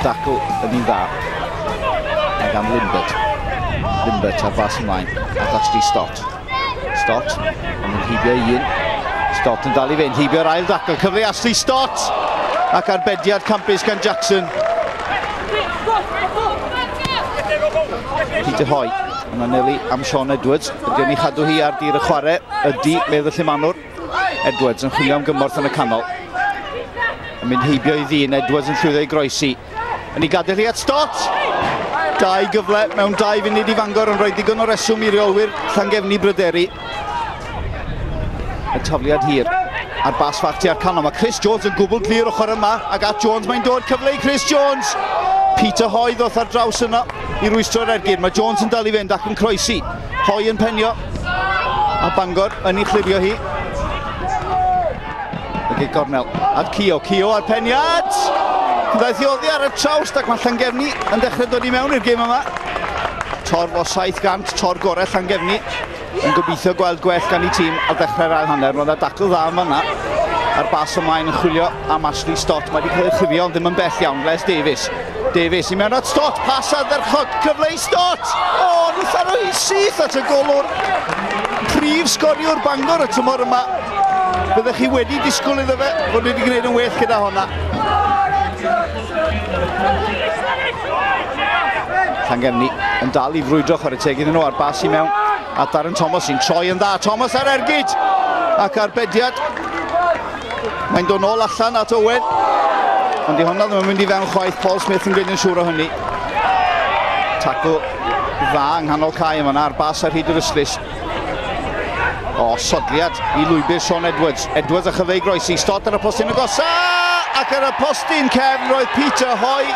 Dacl yn un dda. Mae gan Limbert. Limbert ar fas ymlaen. At Ashley Stott. Stott, ond yn heibio i un. Stott yn dal i fynd, heibio'r ail dacl, cyfle Ashley Stott! Ac arbediad campus gan Jackson. Peter Hoy yn anelu am Sean Edwards. Ydy ni chadw hi ar dir y chwarae? Ydy, medd y llimanwr. Edwards yn chwilio am gymorth yn y canol. Yn mynd heibio i ddyn, Edwards yn llwyddo i groesi. Yn ei gadael hi at Stott! Dau gyfle mewn dau funud i Fangor yn rhoi ddigon o reswm i reolwyr Llangefni bryderu. Y tafliad hir a'r bas fach tua'r canol. Mae Chris Jones yn gwbl glir ochr yma ac at Jones mae'n dod cyfle i Chris Jones. Peter Hoy ddoth ar draws yno i rwystro'r ergyd. Mae Jones yn dal i fynd ac yn croesi. Hoy yn penio a Bangor yn ei chlirio hi. Ag ei gornel at Cio, Cio ar peniad! Daeth i oddi ar y trawst ac mae Llangefni yn dechrau dod i mewn i'r gym yma. Torf o 700, tor gorau Llangefni. Yn gobeithio gweld gwell gan ei tîm ar ddechrau'r ail hanner. Roedd yna dacl dda yma yna. A'r bas ymlaen yn chwilio am Ashley Stott. Mae wedi cael ei chifio ond ddim yn bell iawn. Les Davies. Davies i mewn at Stott. Pas ar dderchog. Cyfle i Stott. O, oh, nhw'n tharo hi syth at y golwr. Prif sgoriwr Bangor y tymor yma. Byddech chi wedi disgwyl iddo fe fod wedi gwneud yn well gyda honna. Llangefni yn dal i frwydro chwarae teg iddyn nhw ar bas i mewn a Darren Thomas sy'n troi yn dda. Thomas ar ergyd ac ar bediad. Mae'n dod nôl allan at Owen. Ond di honna ddim yn mynd i fewn chwaith. Paul Smith yn gwneud yn siŵr o hynny. Tacl dda yng nghanol cae yma ar bas ar hyd yr yslis. O, sodliad i lwybr Sean Edwards. Edwards a chyfeu groes i Stott ar y postyn y gosa! Ac ar y postyn cefn roedd Peter Hoy.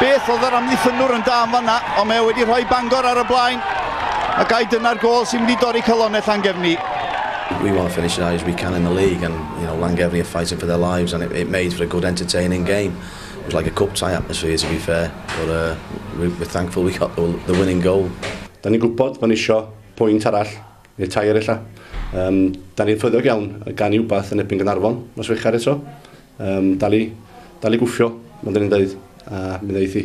Beth oedd yr amddiffynwr yn da yn fanna, ond mae wedi rhoi Bangor ar y blaen. A gai dyna'r gol sy'n mynd i dorri calonau Llangefni. we want to finish as high as we can in the league, and you know Langevni are fighting for their lives, and it, it made for a good, entertaining game. It was like a cup tie atmosphere, to be fair, but uh, we, we're thankful we got the, the winning goal. Da ni'n gwybod bod ni isio pwynt arall, neu tair ella. Um, da ni'n ffyddiog iawn gan i wbath yn ebyn Gynarfon, nos Wecher eto. Um, dal i, dal i gwffio, mae'n dyn ni'n dweud, a mi ddeithi.